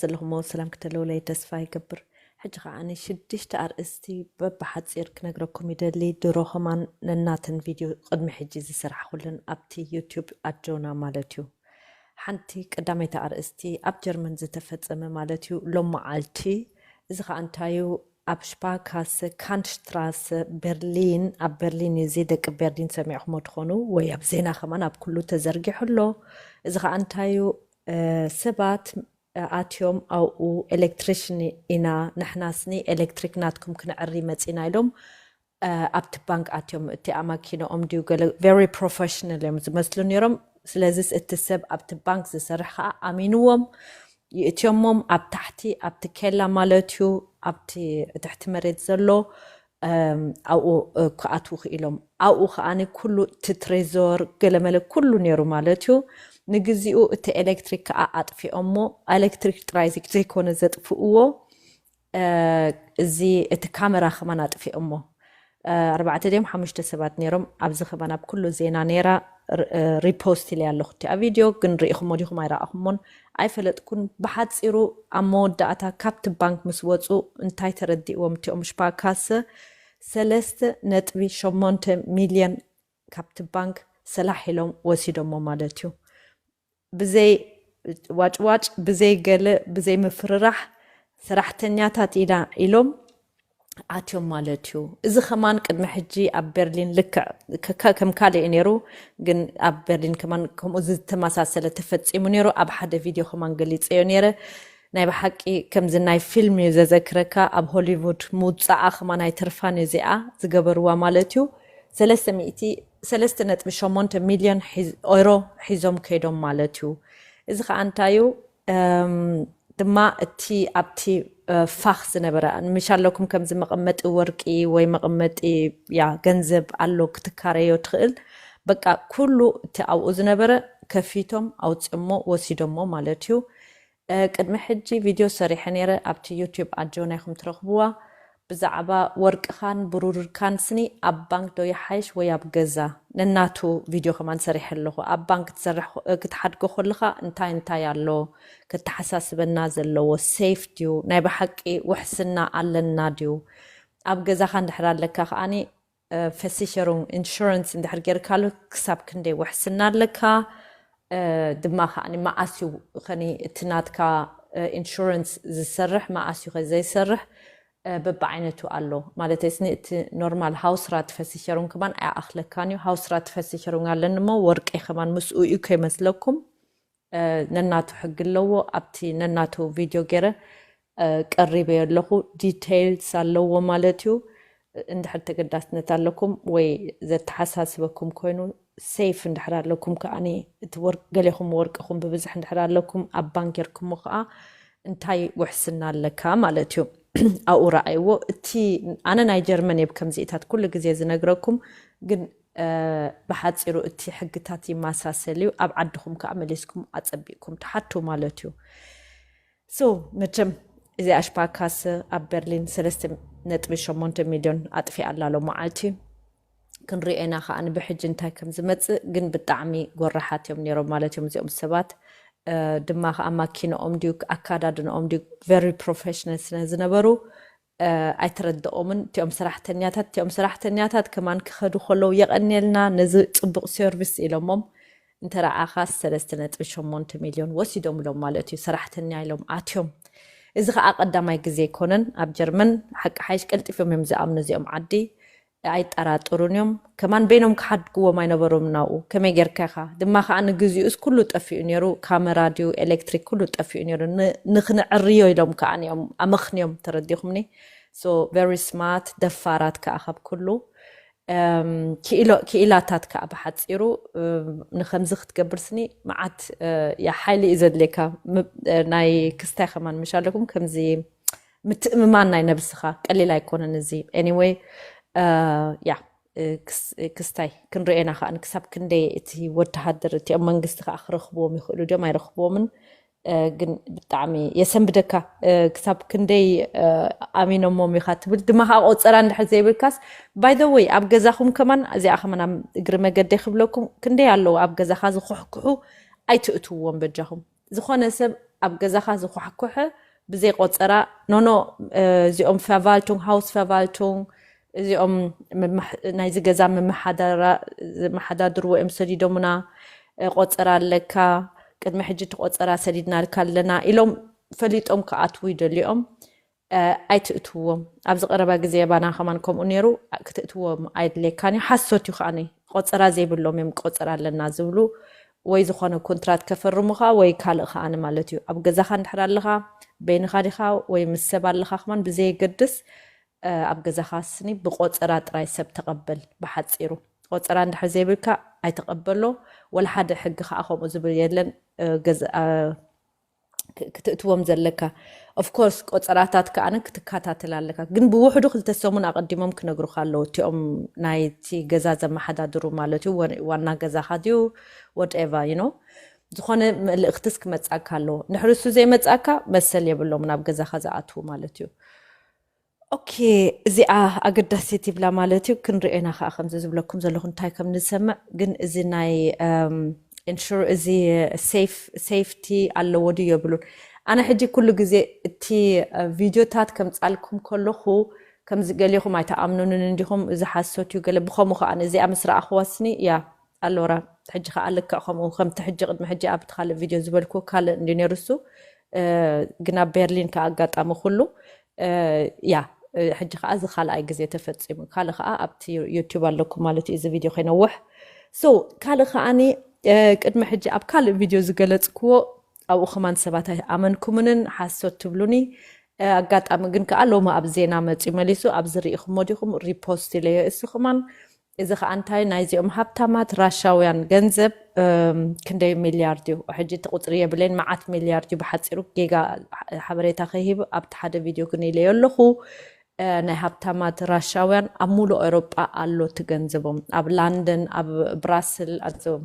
ዘለኹሞ ሰላም ክተልውለይ ተስፋ ይገብር ሕጂ ከኣ ሽዱሽተ ኣርእስቲ በብሓጺር ክነግረኩም ይደሊ ድሮ ከማን ነናተን ቪድዮ ቅድሚ ሕጂ ዝሰራሕኹለን ኣብቲ ዩቱብ ኣጆና ማለት እዩ ሓንቲ ቀዳመይቲ ኣርእስቲ ኣብ ጀርመን ዝተፈጸመ ማለት እዩ ሎማዓልቲ እዚ ከኣ እንታይ እዩ ኣብ ሽፓካሰ ካንድሽትራሰ በርሊን ኣብ በርሊን እዩ እዚ ደቂ በርሊን ሰሚዕኹሞ ትኾኑ ወይ ኣብ ዜና ከማን ኣብ ኩሉ ተዘርጊሑ ኣሎ እዚ ከኣ እንታይ እዩ ሰባት ኣትዮም ኣብኡ ኤለክትሪሽን ኢና ንሕናስ ን ኤለክትሪክ ናትኩም ክነዕሪ መጺና ኢሎም ኣብቲ ባንክ ኣትዮም እቲኣ ማኪነኦም ድዩ ገለ very professional እዮም ዝመስሉ ኔሮም ስለዚስ እቲ ሰብ ኣብቲ ባንክ ዝሰርሕ ከኣ ኣሚንዎም ይእትዮሞም ኣብ ታሕቲ ኣብቲ ኬላ ማለትዩ ኣብቲ ትሕቲ መሬት ዘሎ ኣብኡ ክኣትዉ ክኢሎም። ኣብኡ ከኣ ኩሉ እቲ ትሬዞር ገለመለ ኩሉ ነይሩ ማለት እዩ። ንግዚኡ እቲ ኤለክትሪክ ከኣ ኣጥፊኦሞ። ኣለክትሪክ ጥራይ ዘይኮነ ዘጥፍእዎ እዚ እቲ ካመራ ከማን ኣጥፊኦሞ። ኣርባዕተ ድዮም ሓሙሽተ ሰባት ነይሮም። ኣብዚ ከማን ኣብ ኩሉ ዜና ነይራ። ሪፖስት ኢለያ ኣለኹ እቲኣ ቪድዮ ግን ርኢኹሞ ዲኹም ኣይረኣኹሞን ኣይፈለጥኩን ብሓጺሩ ኣብ መወዳእታ ካብቲ ባንክ ምስ ወጹ እንታይ ተረዲእዎም እቲኦም ሽፓርካሰ ሰለስተ ነጥቢ ሸሞንተ ሚልዮን ካብቲ ባንክ ሰላሕ ኢሎም ወሲዶሞ ማለት እዩ ብዘይ ዋጭዋጭ ብዘይ ገለ ብዘይ ምፍርራሕ ሰራሕተኛታት ኢና ኢሎም ኣትዮም ማለት እዩ። እዚ ከማን ቅድሚ ሕጂ ኣብ በርሊን ልክዕ ከም ካልእ እዩ ነይሩ፣ ግን ኣብ በርሊን ከማን ከምኡ ዝተመሳሰለ ተፈጺሙ ነይሩ፣ ኣብ ሓደ ቪድዮ ከማን ገሊጸዮ ነይረ። ናይ ብሓቂ ከምዚ ናይ ፊልም እዩ ዘዘክረካ፣ ኣብ ሆሊውድ ምውጻኣ ከማን ኣይተርፋን እዩ እዚኣ ዝገበርዋ ማለት እዩ። ሰለስተ ሚእቲ ሰለስተ ነጥቢ ሸሞንተ ሚልዮን ኤውሮ ሒዞም ከይዶም ማለት እዩ። እዚ ከኣ እንታይ እዩ? ድማ እቲ ኣብቲ ፋኽ ዝነበረ ምሽ ኣለኩም ከምዚ መቐመጢ ወርቂ ወይ መቐመጢ ያ ገንዘብ ኣሎ ክትካረዮ ትኽእል በቃ ኩሉ እቲ ኣብኡ ዝነበረ ከፊቶም ኣውፅሞ ወሲዶሞ ማለት እዩ ቅድሚ ሕጂ ቪድዮ ሰሪሐ ነይረ ኣብቲ ዩቲዩብ ኣጆ ናይኹም ትረኽብዋ ብዛዕባ ወርቅኻን ብሩርካን ስኒ ኣብ ባንክ ዶ ይሓይሽ ወይ ኣብ ገዛ ነናቱ ቪድዮ ከማን ሰሪሐ ኣለኹ ኣብ ባንክ ክትሰርሕ ክትሓድጎ ኮለኻ እንታይ እንታይ ኣሎ ከተሓሳስበና ዘለዎ ሴፍ ድዩ ናይ ብሓቂ ውሕስና ኣለና ድዩ ኣብ ገዛኻ እንድሕር ኣለካ ከኣ ቨሲሸሩንግ፣ ኢንሹራንስ፣ እንድሕር ጌርካሉ ክሳብ ክንደይ ውሕስና ኣለካ? ድማ ከኣ መኣስ እዩ ኸኒ እቲ ናትካ ኢንሹራንስ ዝሰርሕ መኣስ እዩ ኸ ዘይሰርሕ በብዓይነቱ ኣሎ። ማለተይስኒ እቲ ኖርማል ሃውስራት ቨሲሸሩንግ ከማን ኣይኣኽለካን እዩ። ሃውስራት ቨሲሸሩንግ ኣለኒ እሞ ወርቀይ ከማን ምስኡ እዩ ከይመስለኩም። ነናቱ ሕጊ ኣለዎ ኣብቲ ነናቱ ቪድዮ ገይረ ቀሪበዮ ኣለኹ ዲተይልስ ኣለዎ ማለት እዩ እንድሕር ተገዳስነት ኣለኩም ወይ ዘተሓሳስበኩም ኮይኑ ሴፍ እንድሕር ኣለኩም ከዓ እቲ ገሌኹም ወርቅኹም ብብዝሕ እንድሕር ኣለኩም ኣብ ባንክ ጌርኩሞ ከዓ እንታይ ውሕስና ኣለካ ማለት እዩ ኣብኡ ረኣይዎ እቲ ኣነ ናይ ጀርመን እየ ከምዚኢታት ኩሉ ግዜ ዝነግረኩም ግን ብሓጺሩ እቲ ሕግታት ይማሳሰል እዩ ኣብ ዓድኹም ከኣ መሊስኩም ኣጸቢቅኩም ትሓቱ ማለት እዩ ሶ መቸም እዚ ኣሽፓካስ ኣብ በርሊን ሰለስተ ነጥቢ ሸሞንተ ሚልዮን ኣጥፊኣ ኣላ ሎማዓልቲ ክንሪኦ ኢና ከኣ ብሕጂ እንታይ ከም ዝመጽእ ግን ብጣዕሚ ጎራሓት እዮም ነይሮም ማለት እዮም እዚኦም ሰባት ድማ ከኣ ማኪንኦም ድዩ ኣካዳድንኦም ድዩ ቨሪ ፕሮፌሽናል ስለ ዝነበሩ ኣይተረደኦምን እቲኦም ሰራሕተኛታት እቲኦም ሰራሕተኛታት ከማን ክከዱ ከለው የቀንየልና ነዚ ፅቡቅ ሰርቪስ ኢሎሞም እንተረኣካስ ሰለስተ ነጥቢ ሸሞንተ ሚልዮን ወሲዶምሎም ማለት እዩ ሰራሕተኛ ኢሎም ኣትዮም እዚ ከኣ ቀዳማይ ግዜ ኣይኮነን ኣብ ጀርመን ሓቂ ሓይሽ ቀልጢፎም እዮም ዝኣምኑ እዚኦም ዓዲ ኣይጠራጠሩን እዮም ከማን በይኖም ክሓድግዎም ኣይነበሮምን ኣብኡ ከመይ ጌርካ ኢኻ ድማ ከኣ ንግዚኡስ ኩሉ ጠፊኡ ኔሩ ካመራ ድዩ ኤለክትሪክ ኩሉ ጠፊኡ ኔሩ ንክነዕርዮ ኢሎም ከኣ እዮም ኣመኽንዮም ተረዲኹምኒ so very smart ደፋራት ከኣ ካብ ኩሉ ክኢላታት ከዓ ብሓፂሩ ንከምዚ ክትገብርስኒ መዓት ሓይሊ እዩ ዘድልየካ ናይ ክስታይ ከማን ምሻለኩም ከምዚ ምትእምማን ናይ ነብስኻ ቀሊል ኣይኮነን እዚ ኤኒወይ ያ ክስታይ ክንርኤና ከዓ ክሳብ ክንደይ እቲ ወተሃደር እቲኦም መንግስቲ ከዓ ክረክብዎም ይኽእሉ ድዮም ኣይረክብዎምን ግን ብጣዕሚ የሰንብደካ ክሳብ ክንደይ ኣሚኖሞም ኢኻ ትብል ድማ ከዓ ቆፀራ እንድሕር ዘይብልካስ ባይ ዘ ወይ ኣብ ገዛኹም ከማን እዚኣ ከማን ኣብ እግሪ መገዲ ክብለኩም ክንደይ ኣለዉ ኣብ ገዛኻ ዝኩሕኩሑ ኣይትእትዎም በጃኹም ዝኾነ ሰብ ኣብ ገዛኻ ዝኳሕኩሐ ብዘይ ቆጸራ ኖኖ እዚኦም ፈቫልቱንግ ሃውስ ፈቫልቱንግ እዚኦም ናይዚ ገዛ ምምሓዳራ ዝመሓዳድርዎ እዮም ሰዲዶምና ቆጸራ ኣለካ ቅድሚ ሕጂ ትቆጸራ ሰዲድናልካ ኣለና ኢሎም ፈሊጦም ክኣትዉ ይደልዮም ኣይትእትዎም ኣብዚ ቀረባ ግዜ ባና ከማን ከምኡ ነይሩ ክትእትዎም ኣይድሌካን እዩ ሓሶት እዩ ከኣ ቆጸራ ዘይብሎም እዮም ቆጸራ ኣለና ዝብሉ ወይ ዝኾነ ኮንትራት ከፈርሙ ከኣ ወይ ካልእ ከኣ ማለት እዩ ኣብ ገዛኻ እንድሕር ኣለኻ በይንኻ ዲኻ ወይ ምስ ሰብ ኣለኻ ከማን ብዘየገድስ ኣብ ገዛኻ ስኒ ብቆጸራ ጥራይ ሰብ ተቐበል ብሓጺሩ ቆጸራ እንድሕር ዘይብልካ ኣይተቐበሎ ወላ ሓደ ሕጊ ከኣ ከምኡ ዝብል የለን ክትእትዎም ዘለካ of course ቆጸራታት ከኣ ክትካታተል ኣለካ ግን ብውሕዱ ክልተ ሰሙን ኣቀዲሞም ክነግሩካ ኣለዉ እቲኦም ናይቲ ገዛ ዘመሓዳድሩ ማለት እዩ ዋና ገዛካ ድዩ whatever you know ዝኾነ መልእክትስ ክመጻካ ኣለዎ ንሕርሱ ዘይመጻካ መሰል የብሎም ናብ ገዛካ ዝኣትዉ ማለት እዩ ኦኬ እዚኣ ኣገዳሲት ይብላ ማለት እዩ ክንሪኦ ኢና ከዓ ከምዚ ዝብለኩም ዘለኹ እንታይ ከም ንሰምዕ ግን እዚ ናይ ኢንሹር እዚ ሴፍቲ ኣለዎ ድዩ የብሉን ኣነ ሕጂ ኩሉ ግዜ እቲ ቪድዮታት ከምጻልኩም ከለኹ ከምዚ ገሊኹም ኣይተኣምኑንን እንዲኹም እዚ ሓሶት እዩ ገለ ብከምኡ ከዓ እዚኣ ምስ ረኣኹዋስኒ ያ ኣሎራ ሕጂ ከዓ ልክዕ ከምኡ ከምቲ ሕጂ ቅድሚ ሕጂ ኣብቲ ካልእ ቪድዮ ዝበልኩ ካልእ እንዲ ነይሩ እሱ ግን ኣብ ቤርሊን ከዓ ኣጋጣሚ ኩሉ እያ ሕጂ ከዓ እዚ ካልኣይ ግዜ ተፈፂሙ ካልእ ከዓ ኣብቲ ዩቱብ ኣለኩም ማለት እዩ እዚ ቪድዮ ከይነውሕ ሶ ካልእ ከዓኒ ቅድሚ ሕጂ ኣብ ካልእ ቪድዮ ዝገለፅክዎ ኣብኡ ከማን ሰባት ኣይኣመንኩምንን ሓሶት ትብሉኒ ኣጋጣሚ ግን ከዓ ሎሚ ኣብ ዜና መፅዩ መሊሱ ኣብዚ ርኢኹሞ ዲኹም ሪፖስት ኢለዮ እሱ ከማን እዚ ከኣ እንታይ ናይዚኦም ሃብታማት ራሻውያን ገንዘብ ክንደይ ሚልያርድ እዩ ሕጂ እቲ ቁጽሪ የብለይን መዓት ሚልያርድ እዩ ብሓጺሩ ጌጋ ሓበሬታ ከይህብ ኣብቲ ሓደ ቪድዮ ግን ኢለዮ ኣለኹ ናይ ሃብታማት ራሻውያን ኣብ ሙሉእ ኤሮጳ ኣሎ እቲ ገንዘቦም ኣብ ላንደን ኣብ ብራስል ኣዞም